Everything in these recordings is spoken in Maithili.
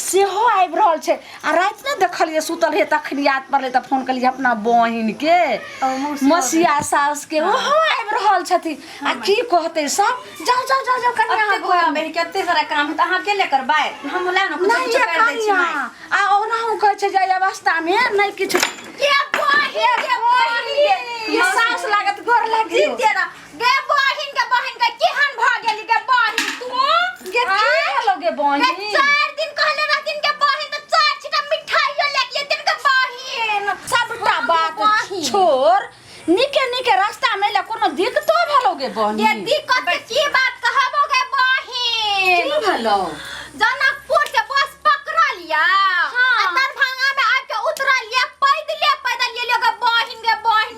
सेहो आबि रहल छै आ राति ने देखलियै सुतल रहियै तखन याद पड़लै तऽ फोन केलियै अपना बहिनके ओ मौसी मसिया सासके ओहो आबि रहल छथिन आ की कहतै सब जाउ जाउ जाउ जाउ कनिया अहाँ कतेक घर बहिन कते सारा काम तऽ अहाँ अकेले करबै हम लए ने कुछ नहि कुछ ये कर दै छी कनिया माय। आ ओनाहु कहै छै जे एहि अवस्थामे नहि किछु ये बहिन ये बहिन ये सास लागत गोर लागि जीते रह गे बहिन के बहिन के केहन भ गेली गे बहिन तू गे की हेलो गे गे बहिन चार दिन कहले रहथिन के बहिन त चार छिटा मिठाइयो लेके एथिन के बहिन सबटा बात बहिन। छोड़ निके निके रास्ता में ले कोनो दिक्कतो भेलो गे बहिन ये दिक्कत के की बात कहबो गे बहिन की भेलो जनकपुर से बस पकड़ा लिया हाँ। आ दरभंगा में आके उतरा लिया पैदले पैदल ये लोग बहिन गे बहिन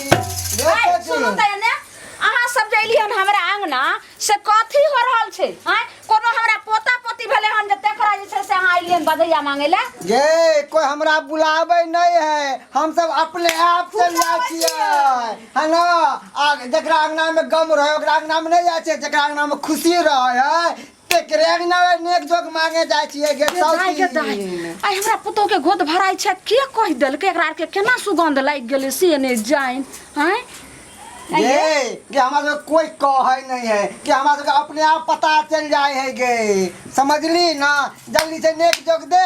ए, सुनू तऽ एने अहाँ सब जे एलियै हन हमरा अंगना से कथी हो रहल छै हैं कोनो हमरा पोता पोती भेले हन जे तेकरा जे छै से अहाँ एलियै हन बधैया मांगे ले ये कोई हमरा बुलावे नहीं है हम सब अपने आप से जाए छिए है ना आ जकरा अंगना में गम रहे ओकरा अंगना में नहीं जाए छिए जकरा अंगना में खुशी रहे है केकरे के नावे नेक जोग मांगे जाय छिए गे जाय के दाय सौती आइ हमरा पुतोह के गोद भराइ छै के कहि देलकै एकरा आर के केना सुगंध लागि गेलै से नहि जाइन आँय गे गे हमरा सब कोई कहै नहीं है कि हमरा सब अपने आप पता चल जाय है गे समझली ना जल्दी से नेक जोग दे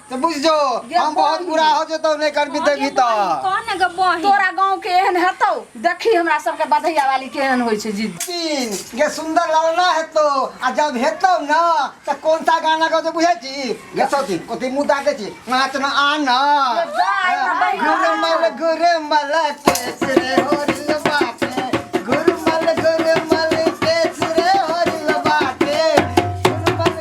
तो बुझ जो गे हम बहुत बहिन। बुरा हो जतो नहीं कर भी देबी तो कौन है गे बहिन तोरा गांव के एहन हेतौ देखी हमरा सबके बधैया वाली केहन होइ छै जी तीन गे सुंदर लड़ना है तो आ जब हेतो ना तो कौन सा गाना गाओ तो बुझे छी गे सोती कोती मुंह ताके छी नाच ना आना गुरु मल गुरु मल केस रे होरिल बाटे गुरु मल गुरु मल केस रे होरिल बाटे गुरु मल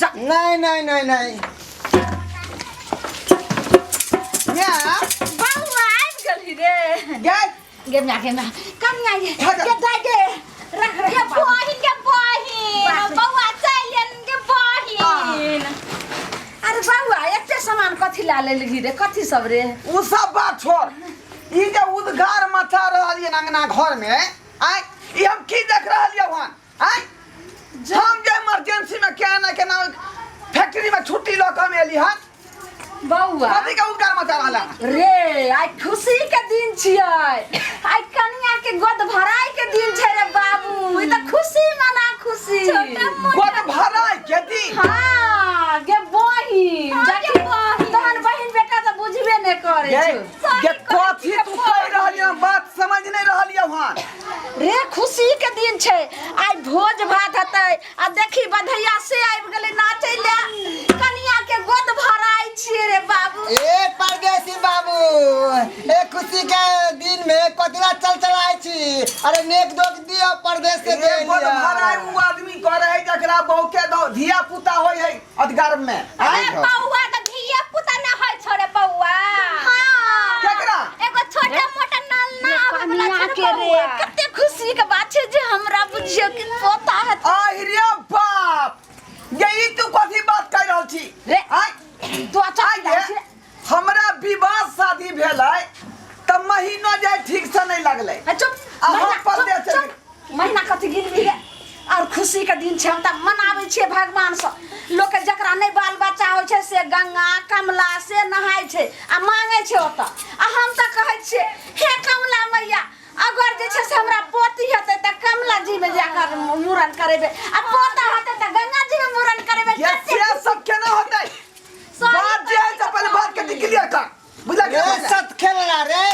जा नहीं नहीं नहीं नहीं या बउआ आबि गेलही रे गए गे माय गे माय कम ना ये हाँ, गे दाय गे रख रख गे बहिन गे बहिन बउआ चलियन गे बहिन अरे बउआ एते सामान कथी ला लेलही रे कथी सब रे उ सब बात छोड़ ई जे उद्गार मचा रहल ये अंगना घर में आय ई हम की देख रहल ये वहां आय हम जे इमरजेंसी में क्या ना केना फैक्ट्री में छुट्टी लऽ के हम एली हन बौआ कथी के उनकार मचा रहला रे आइ खुशी के दिन छियै आइ कनिया के गोद भराई के दिन छै रे बाबू ई त खुशी मना खुशी गोद भराई के दिन हाँ गे बहिन देखी तहन बहिन बेटा त बुझबे नै करे गे छौ गे कथी तू कह रहली हन बात समझ नहीं रहली हन रे खुशी के दिन छै आइ भोज भात हेतै आ देखी बधैया से आबि गेलै नाचै ले कनिया के गोद भराइ छियै रे बाबू ए परदेसी बाबू ए खुशी के दिन में कतला चल चलाय छी अरे नेक दोक दियो परदेश के दे एगो तो भराय उ आदमी करे है जकरा बहुके दो धिया पुता होय है अत गर्भ में अरे आए पौआ तो धिया पुता ना है छोरे पौआ हां केकरा एगो छोटा मोटा नल ना आवे वाला कनिया छोरे के रे पौआ कते खुशी के बात छै जे हमरा बुझियो कि पोता है आहि रे बाप यही तू कथी बात कर रहल छी रे। आय तू अच्छा आय गे। हमरा विवाह शादी भेलै तऽ महीनो जाय ठीक से नहि लगलै ए, चुप अहाँ महीना, परदेश चुप, चलि- चुप। महीना कथी गिनबी रे और खुशी के दिन छै हम तऽ मनाबै छियै भगवान से लोक के जकरा नहि बाल बच्चा होइ छै से गंगा कमला से नहाय छै आ मांगै छै ओतऽ आ हम तऽ कहै छियै हे कमला मैया अगर जे छै से हमरा पोती हेतै तऽ कमला जी में जाकर मूड़न करेबै आ पोता हेतै तऽ गंगा जी में मूड़न करेबै ये कते से सब केना होतै बात जे है से पहले बात के क्लियर कर बुझला के ए सत खेलला रे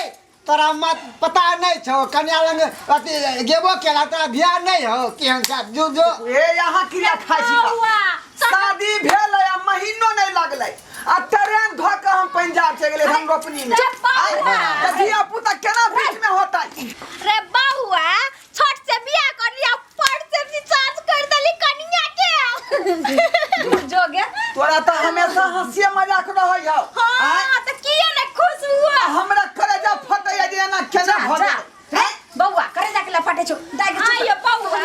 तोरा मत पता नहीं छो कन्या लंग अथी गेबो केला तोरा ध्यान नहीं हो केहन जा जो जो ए यहाँ क्रिया खाइ छी बा। शादी भेल है, आ महीनो नहीं लगलै आ ट्रेन धो के हम पंजाब चलि गेलै हम रोपनी में चप्पा आय, हुआ। तऽ धिया पुता केना बीच में होतै रे बउआ छोट से बियाह कर लिया पर से रिचार्ज कर देली कनिया के जोगे तोरा तो हमेशा हंसिए मजाक रहै हौ हां त किए ने खुश हुआ आ हमरा करेजा फटै जे एना केना भऽ जा गेल हैं? बौआ करे जाके ला फटे छो जाय के आइयो बौआ।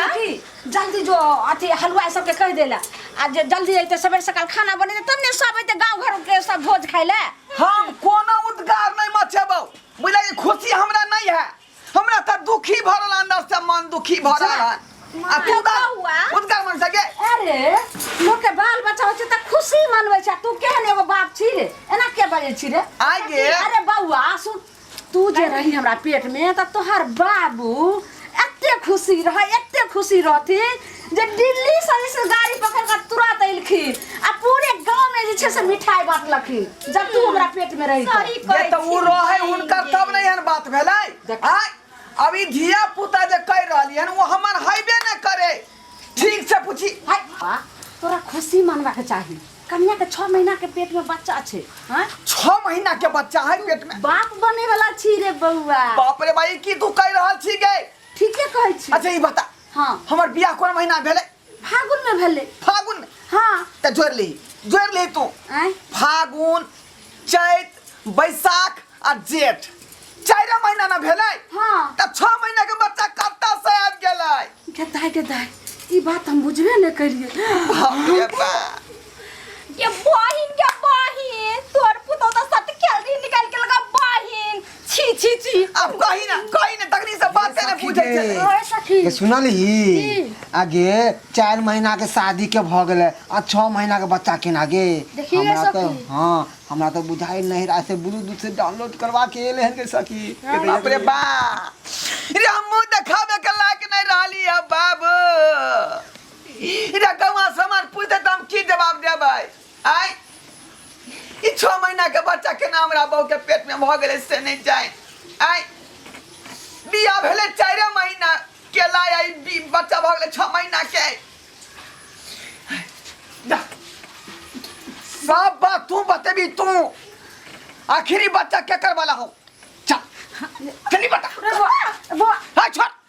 जल्दी जो अथी हलवा सब के कह देला आ जे जल्दी अइते सवेर सकाल खाना बने तब ने सब अइते गांव घर के सब भोज खाइले हम कोनो उद्गार नहीं मचेबौ बुझलियै खुशी हमरा नहीं है हमरा त दुखी भऽ रहल अंदर से मन दुखी भऽ रहल है आ तू का हुआ? उनकर मन से गे अरे लोग के बाल बच्चा होय छै त खुशी मनबै छै तू केहन एगो बाप छी रे एना के बजै छी रे आइ गे अरे बौआ सुन तू जे रही हमरा पेट में त तोहर बाबू एते खुशी रह एते खुशी रहथिन जे दिल्ली से जे छै गाड़ी पकड़ के तुरंत अइलखिन आ पूरे गांव में जे छै से मिठाई बांटलखिन जब तू हमरा पेट में रही सही जे कहै तऽ ओ छी। रहै हुनका तब ने एहन बात भेलै देख। आय अब ई धिया पुता जे कहि रहली हन ओ हमर हैबे ने करे ठीक से पूछी हाय बा, तोरा खुशी मनबा के चाही कन्या के छह महीना के पेट में बच्चा छै हाँ? छह महीना के बच्चा है पेट में बाप बने वाला छी रे बउआ बाप रे भाई की तू कहि रहल छी गे ठीके कहै छी अच्छा ई बता हाँ हमर बियाह कोन महीना भेले फागुन में भेले फागुन में हाँ त जोड़ ली जोड़ ली तू आय फागुन चैत बैसाख आ जेठ चार महीना ना भेले हाँ त छह महीना के बच्चा कत्ता से आबि गेले गदाय गदाय ई बात हम बुझबे न करिए बाप रे बा। ये बहिन के बहिन तोर पुतो त सत खेल रही निकाल के लगा बहिन छी छी छी अब कही ना कही ना तकनी से बात करे पूछे रे। छे ओए सखी ये सुनल ही आगे चार महीना के शादी के भ गेले आ छह महीना के बच्चा के ना गे देखिए हमरा तो सखी। हाँ हमरा तो बुझाई नहीं रहा से ब्लूटूथ से डाउनलोड करवा के एले हैं गे सखी बाप रे बा रे हमू देखावे के लायक नहीं रहली है बाबू रे कौआ समाज पूछते त हम की जवाब देबै आय ई छः महीना के बच्चा केना हमरा बहू के पेट में भऽ गेलै से नहि जाय आय बियाह भेलै चारि महीना केला या ई बी- बच्चा भऽ गेलै छः महीना के जा। सब बात तू बतेबी तू आखिरी बच्चा केकर वाला हो चल जल्दी बता रघुआ बौआ हाय छोड़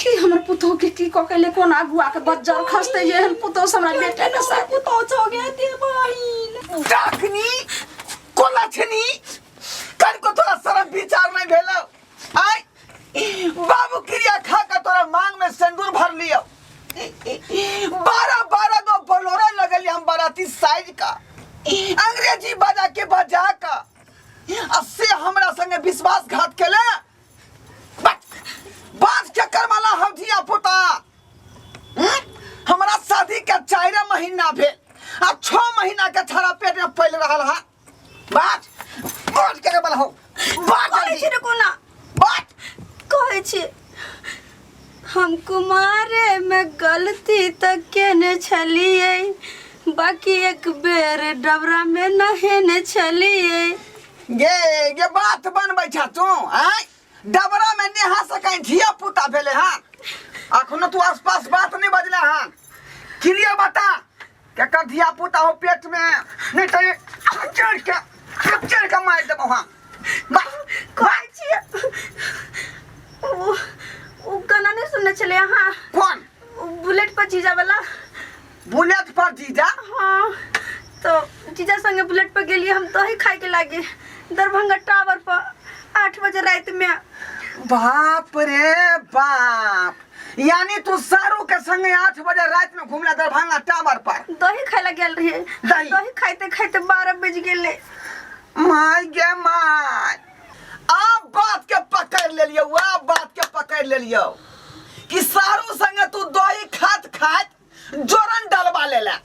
कि हमर पुतोह के की कऽ के ले कोन आगुआ के बज्जर खसते जे एहन पुतोह से हमरा बेटा के साथ पुतोह छो गे ते बहिन डाकनी कोला छनी कन को थोड़ा शर्म विचार नहीं भेलो आय बाबू क्रिया खा के तोरा मांग में सिंदूर भर लियो बारह बारह गो बलोरा लगल हम बाराती साइज का अंग्रेजी बजा के बजा का आ से हमरा संगे विश्वासघात केला बात चक्कर वाला हम धिया पुता हम्म? हमरा शादी के चार महीना भेल आ छो महीना के छाड़ा पेट में पल रहल है बात बात चक्कर वाला हो बात कहै जल्दी। छी रुकू ना बात कहै छी हम कुमारे में गलती तऽ केने छलियै बाकी एक बेर डबरा में नहेने छलियै गे गे बात बनबै छा तू आय डबरा में नेहा से कहीं धिया पुता भेले हन अखनो तू आसपास बात नहीं बजले हन क्लियर बता केकर धिया पुता हो पेट में नहीं तो ये खच्चर के खच्चर के मार देबो हम बा कहै छियै ओ ओ गाना नहि सुनने छलियै अहाँ कोन ओ बुलेट पर जीजा वाला बुलेट पर जीजा हाँ तो जीजा संगे बुलेट पर गेलिए हम दही खाए के लागे दरभंगा टावर पर आठ बजे रात में बाप रे बाप यानी तू सारू के संगे आठ बजे रात में घूमला दरभंगा टावर पर दही खाए ला गेल रहे दही? दही खाते खाते बारह बज गेले माय गे माय अब बात के पकड़ ले लियो अब बात के पकड़ ले लियो कि सारू संगे तू दही खात खात जोरन डलवा ले ले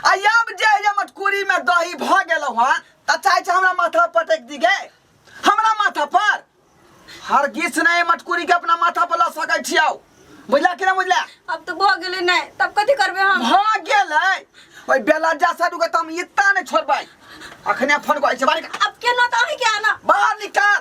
आ अब जे जे मटकुरी में दही भ गेलो हन त चाहे छै हमरा माथा पर पटक दी गे हमरा माथा पर हर गीस नहीं मटकुरी के अपना माथा पर ल सकै छियौ बुझला कि ना बुझला अब तो भऽ गेलै नहि तब कथी करबै हम भ गेलै ओइ बेलज्जा साडू के त हम इत्ता नहीं छोड़बै अखने फोन करै छै बाहर निकाल। अब केना तऽ अहीं के आना बाहर निकाल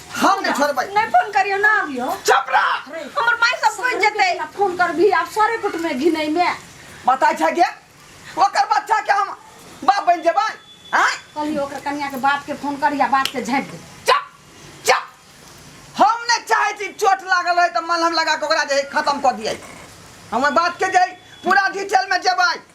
हम नहीं छोड़बै नहीं फोन करियो ना आबियो चुप रह हमर माय सब कोई जेते फोन कर भी आप सारे कुट में घिनै में बताय छै के ओकर बच्चा के हम बाप बन जेबै हां कली ओकर कन्या के बाप के फोन करिया बाप के झाँप दे चुप चुप हम ने चाहे छी चोट लागल रहे त मलहम लगा के ओकरा जे खत्म कर दियै हम बात के जे पूरा डिटेल में जेबै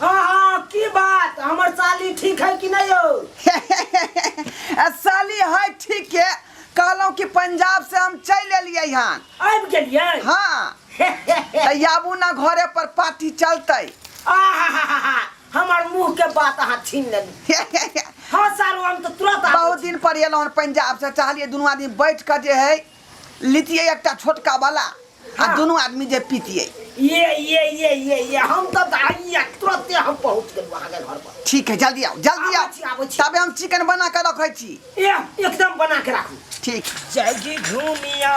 हाँ हाँ की बात हमर साली ठीक है कि नहीं हो आ साली है ठीक है कहलहुँ कि पंजाब से हम चलि एलियै हन आबि गेलियै हाँ तऽ आबू ने घरे पर पार्टी चलतै आहाहाहा, हमर मुंह के बात अहाँ छीन लेली हाँ सारू हम तो तुरंत आबो बहुत दिन पर एलहुँ हन पंजाब से चाहलियै दुनू आदमी बैठ कऽ जे है लितियै एकटा छोटका वाला आ हाँ। दुनू आदमी जे पीतियै ये ये ये ये ये हम तो आइए तुरंते हम पहुंच गेलु अहाँ के घर पर ठीक है जल्दी आओ जल्दी आओ आबो छी तबे हम चिकन बना के रखै छी ए एकदम बना के राखू ठीक जगी घूमिया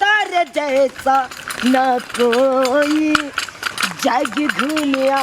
तर जैसा न कोई जग घूमिया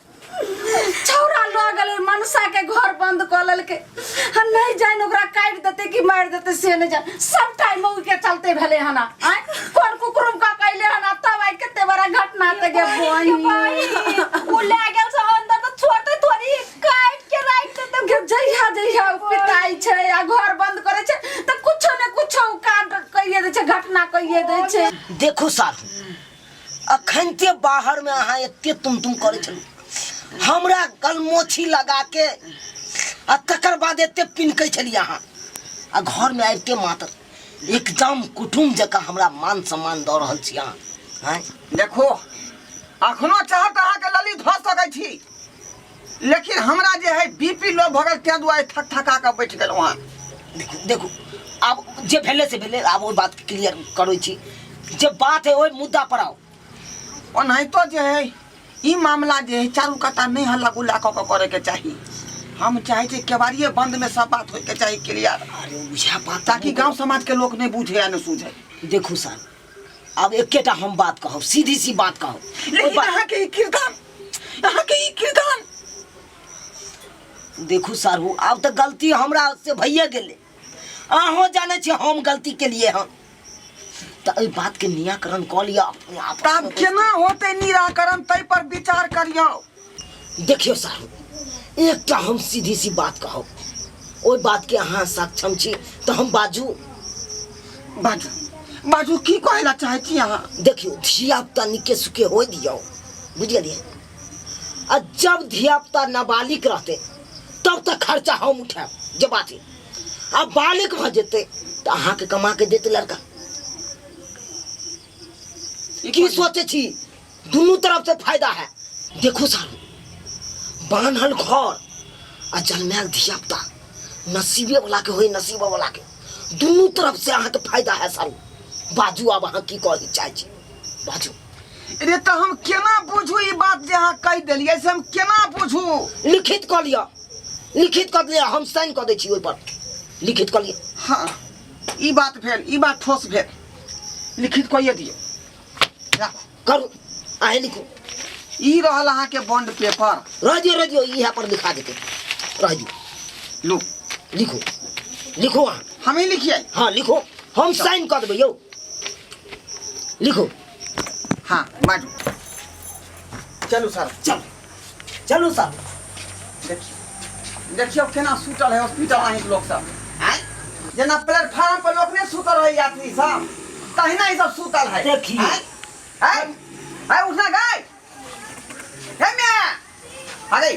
छौरा लऽ गेलै मनसा के घर बंद कऽ लेलकै हम नहीं जान ओकरा काट देते कि मार देते से नहीं जान सब टाइम मौगी के चलते भेले हना आय कोन कुकुरुम का कैले हना तब आय कते बड़ा घटना ते गे बहिन उ ले गेल से अंदर तो छोड़ते थोड़ी काट के राख देते गे जइहा जइहा उ पिताई छै आ घर बंद करे छै त कुछो ने कुछो उ काट कइए दे छै घटना कइए दे छै देखो साधु अखनते बाहर में अहाँ एते तुम तुम करे छलू हमरा गलमोछी लगा के आ तकर बाद एते पिनकै छलियै अहाँ आ घर में आबिते मात्र एकदम कुटुम जकाँ हमरा मान सम्मान दऽ रहल छी अहाँ आँय देखो अखनो चाहत अहाँके लली धऽ सकै छी लेकिन हमरा जे है बीपी लो भऽ गेल ताहि दुआरे थक थका कऽ बैठ गेलहुँ हँ देखू देखू आब जे भेलै से भेलै आब ओहि बातके क्लियर करै छी जे बात है ओहि मुद्दा पर आउ ओनाहितो जे है ई मामला जे है चारू कटा नहि हल्ला गुल्ला कऽ कऽ करैके चाही हम चाहै छी केबाड़िए बन्दमे सब बात होइके चाही क्लियर अरे उएह बात ताकि गाँव समाजके लोक नहि बुझै आ नहि सुझै देखू सर अब एकेटा हम बात कहब सीधी सी बात कहब ओहि लेकिन बात- अहाँके ई किरदान अहाँके ई किरदान देखू सारू आब तऽ गलती हमरा से भइए गेलै अहूँ जानै छी हम गलती केलिए हँ तऽ एहि बातके निराकरण कऽ लिअ अपने आप तब केना होतै निराकरण ताहि पर विचार करियौ देखियो साहब एकटा हम सीधी सी बात कहब ओहि बात के अहाँ सक्षम छी तऽ हम बाजू बाजू बाजू की कहै लए चाहै छी अहाँ देखियो धियापुता निके सुके हो दियौ बुझलियै आ जब धियापुता नाबालिग रहतै तब तऽ खर्चा हम उठायब जे बात है आ बालिग भऽ जेतै तऽ अहाँके कमा के देतै लड़का की सोचै छी दुनू तरफ से फायदा है देखो सारू बान्हल घर आ जन्मायल धियापुता नसीबे वाला के होई नसीब वाला के दुनू तरफ से अहाँके फायदा है सारू बाजू आब अहाँ की कहै चाहै छी बाजू रे तऽ हम केना बुझू ई बात जे अहाँ कहि देलियै से हम केना बुझू लिखित कऽ लिअ लिखित कऽ लिअ हम साइन कऽ दै छी ओहिपर लिखित कऽ लिअ हँ ई बात भेल ई बात ठोस भेल लिखित कहिए दियौ जा, करू अहे लिखू ई रहल अहाँ के बॉन्ड पेपर रह दियो रह दियो यहाँ पर लिखा देते रह दियो लो लिखू लिखू अहाँ हम ही लिखिए हाँ लिखो हम साइन कर देबै यौ लिखो हाँ बाजू चलू सर चल चलू सर देखियौ देखियौ केना सुतल है हॉस्पिटल अहींके लोक सब आँय जेना प्लेटफार्म पर लोक नहि सुतल रहै यात्री सब तहिना ई सब सुतल है देखियौ। आँय? आँय? आँय, उठना गाय हे माय अरे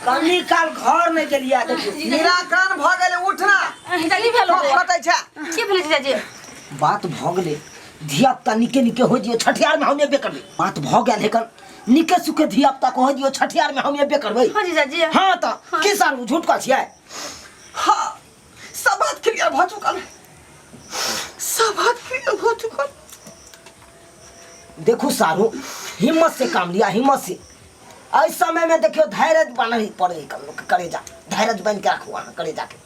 कनी काल घर नहि गेलियै देखियौ निराकरण भऽ गेलै उठना जल्दी भेलो कोन फटै छै की भेलै जीजाजी बात भऽ गेलै धिया पुता निके निके हो जियो छठियार में हम एबे करबै बात भऽ गेल हेकन निके सुखे धिया पुता कह दियो छठियार में हम एबे करबै हो जीजा जी हां त की सारू झूठ कह छियै हाँ सब बात क्लियर भ चुकल है सब बात क्लियर भ चुकल देखू सारू हिम्मत से काम लिया हिम्मत से एहि समय में देखियो धैर्य बनल पड़े कल लोग के करेजा धैर्य बन के राखू अहाँ करेजा के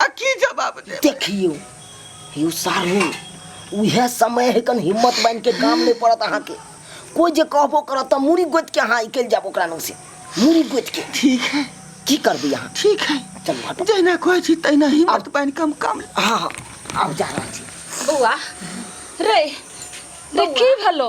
आ की जवाब दे देखियो यौ सारू उहे समय है कन हिम्मत बांध के काम नहीं पड़त अहाँ के कोई जे कहबो करत त मुड़ी गोत के अहाँ इकल जाब ओकरा नु से मुड़ी गोत के ठीक है की करबी अहाँ ठीक है चल हट जहिना कहै छी तहिना हिम्मत बांध के हम काम हां हां आब जा रहल छी बौआ रे रे की भेलो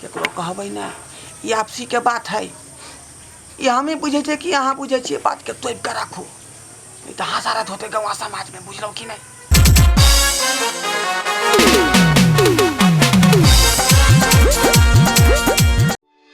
केकरो कहबै ने ई आपसीके बात हइ ई हमही बुझै छियै कि अहाँ बुझै छियै बातके तोपि कऽ राखू नहि तऽ हसारत होतै गौवा समाजमे बुझलहुँ कि नहि